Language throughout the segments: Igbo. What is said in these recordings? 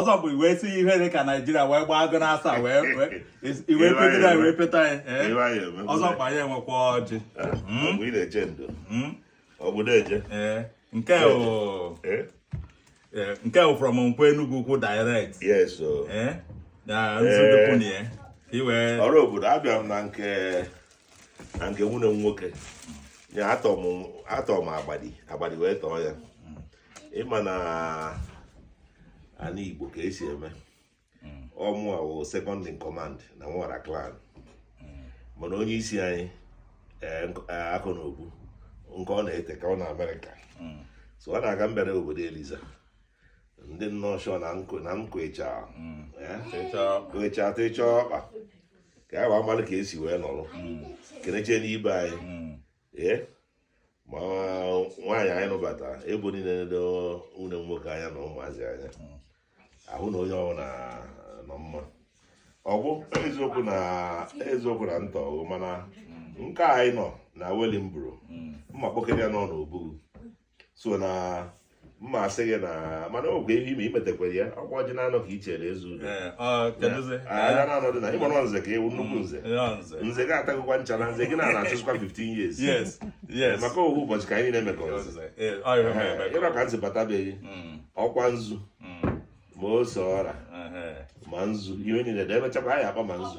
ọzọ bụ wee si ihe dị ka naijiria wee gbaa agụ n'asa wee iwe pegide wee peta ya ọzọ kwa ya enwekwa ọjị nke nke bụ from Nkwọ Enugwu Ukwu direct ọrụ obodo abịa m na nke na nke nwanne m nwoke Tom agbadi agbadi wee tọọ ya ị ma na ala Igbo ka e si eme hmm. ọ mụwa wụ second in command na Nwọra clan hmm. mana onye isi anyị e, e, akụ na obu nke ọ na-ete aka ọ nọ Amerịka hmm. so ọ na-aga mbere obodo Eliza ndị nnọọ na nkụ na nkụ ịcha ịcha ịcha ọkpa ka ya wee amalị ka e si wee nọrọ keneche n'ibe anyị ee ma nwaanyị anyị nụbata ebo niile nedo nwanne m nwoke anya na ụmụazị anya ahụ na onye ọbụla nọ mma ọ bụ eziokwu na eziokwu na ntọ mana nke anyị nọ na Wellingborough m ma kpọkere ya n'ọnụ obugu so na m ma asị gị na mana ọ bụ ihe ime imetekwere ya ọkwa ọjị na-anọ ka i chere eze udo aga na anọdụ na ịgbara nze ka ewu nnukwu nze nze gị atagokwa ncha na nze gị na na-achụzikwa 15 years maka ohu ụbọchị ka anyị na-eme ka ọzọ ịrọ ka nze batabeghị mm. ọkwa nzu mm. ma ose ọra ma nzu ihe niile da emechakwa anyị akpa ma nzu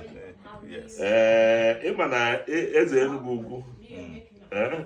ee ị ma na e, eze Enugwu Ukwu mm. eh?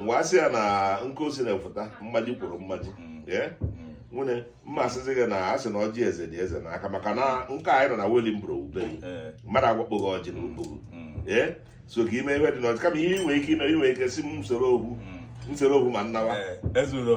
mgbe a sị ya na nke o si na-efụta mmaji kwuru mmaji mm. mm. nwunye m ma asịzi gị na a sị na ọjị eze dị eze n'aka maka na nke anyị nọ na Wellingborough ebe mmadụ agwakpụghị ọjị na ugbogo mm. ee so ka ime ihe dị n'ọjị kama ihe i nwe ike ime i nwe ike sị m nsoro ogwu nsoro ogwu ma nnawa ezuro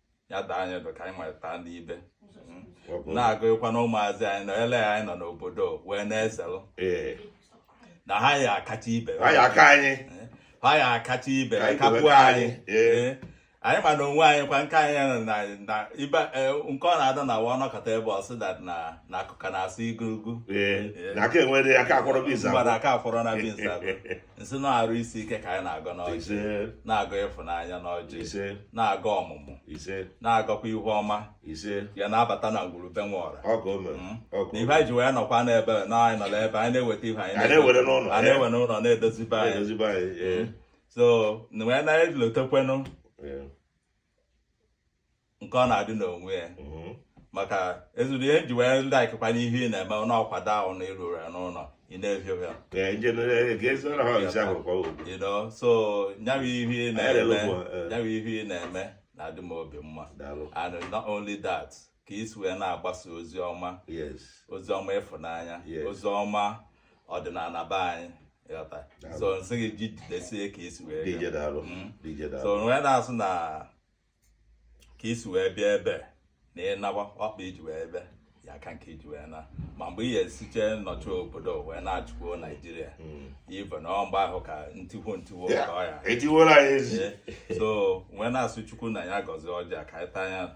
ya daa anyị ndụ ka anyị nwere taa n'ibe na-agụghịkwa na ụmụazị anyị nọ ele anyị nọ n'obodo wee na-eselụ na ha ya akacha ibe ha ya aka anyị ha ya akacha ibe kapuo anyị anyị ma na onwe anyị kwa nke anyị ya na na ibe e, nke ọ na-ada na wa nọkọta ebe ọ sị that na na akụkọ na-asụ igurugwu na aka enwere aka akwọrọ na bins m sị na arụ isi ike ka anyị na-agọ n'ọjị na-agọ ịfụnanya n'ọjị na-agọ ọmụmụ na-agọkwa ihu ọma ya na-abata na ngwuru be Nwọra hmm? na ife anyị ji wee nọkwa n'ebe na anyị nọ n'ebe anyị na-eweta ife anyị na-ewere n'ụlọ na-edozi be anyị hmm? so wee na-elotekwenụ nke ọ na-adị n'onwe ya mm-hmm. maka ezuru ihe ji wee ndị akịkwa n'ihe ị na-eme n'ọkwado ahụ na ịrụrụ ya n'ụlọ ị na-ehi ụgha so nyawa ihe ị na-eme eh. nyawa ihe ị na-eme na-adị m obi mma and not only that ka i si wee na-agbasa ozi ọma ozi ọma ịfụnanya ozi ọma ọdịnala be anyị so m sị gị ji jidesie ka i si wee mm. so wee na-asị na ka i si wee bịa ebe na ịnawa ọkpa iji wee ebe ya aka nke i ji wee na ma mgbe ị ga-esiche nnọchi obodo wee na-achịkwuo naijiria mm. ive na mgbe ahụ ka ntiwo ntiwo ka ọ ya so wee na-asị chukwu na ya gọzie ọjị a ka anyị taa anya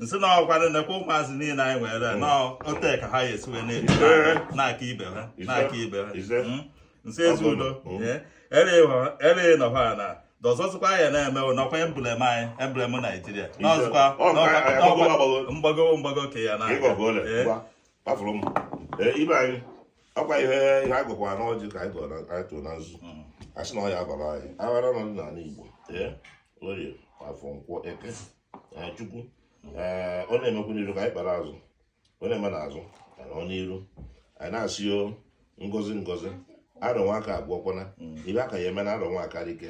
m sị na ọkwanụ nekwa ụmụazị niile anyị nwere hmm. n'ote ka ha esi wee na-aka ibe ha na-aka ibe ha hmm? m sị ezi udo ere nọkwa na dọzọzụkwa ya na-eme nọkwa emblem anyị emblem naijiria n'ọzụkwa mgbago mgbago ke ya na ibe anyị ọkwa ihe ihe a gọkwara n'ọjị ka anyị gọrọ na anyị tụrụ na nzu mm. a sị na ọ ya-abara anyị aghara nọ n'ala Igbo ee orie afọ nkwọ eke chukwu ee ọ na-emekwu n'iru ka anyị kpara azụ ọ na-eme n'azụ ka nọ n'iru anyị na-asị o ngozi ngozi arọ nwa aka abụọ kwana mm. ive ka ya-eme n'arọ nwa akarị ike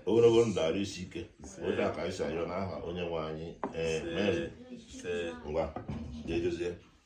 ogologo ndụ arụ isi ike otu a ka anyị si ayọ n'aha onye nwe anyị ee ngwa ga-edozie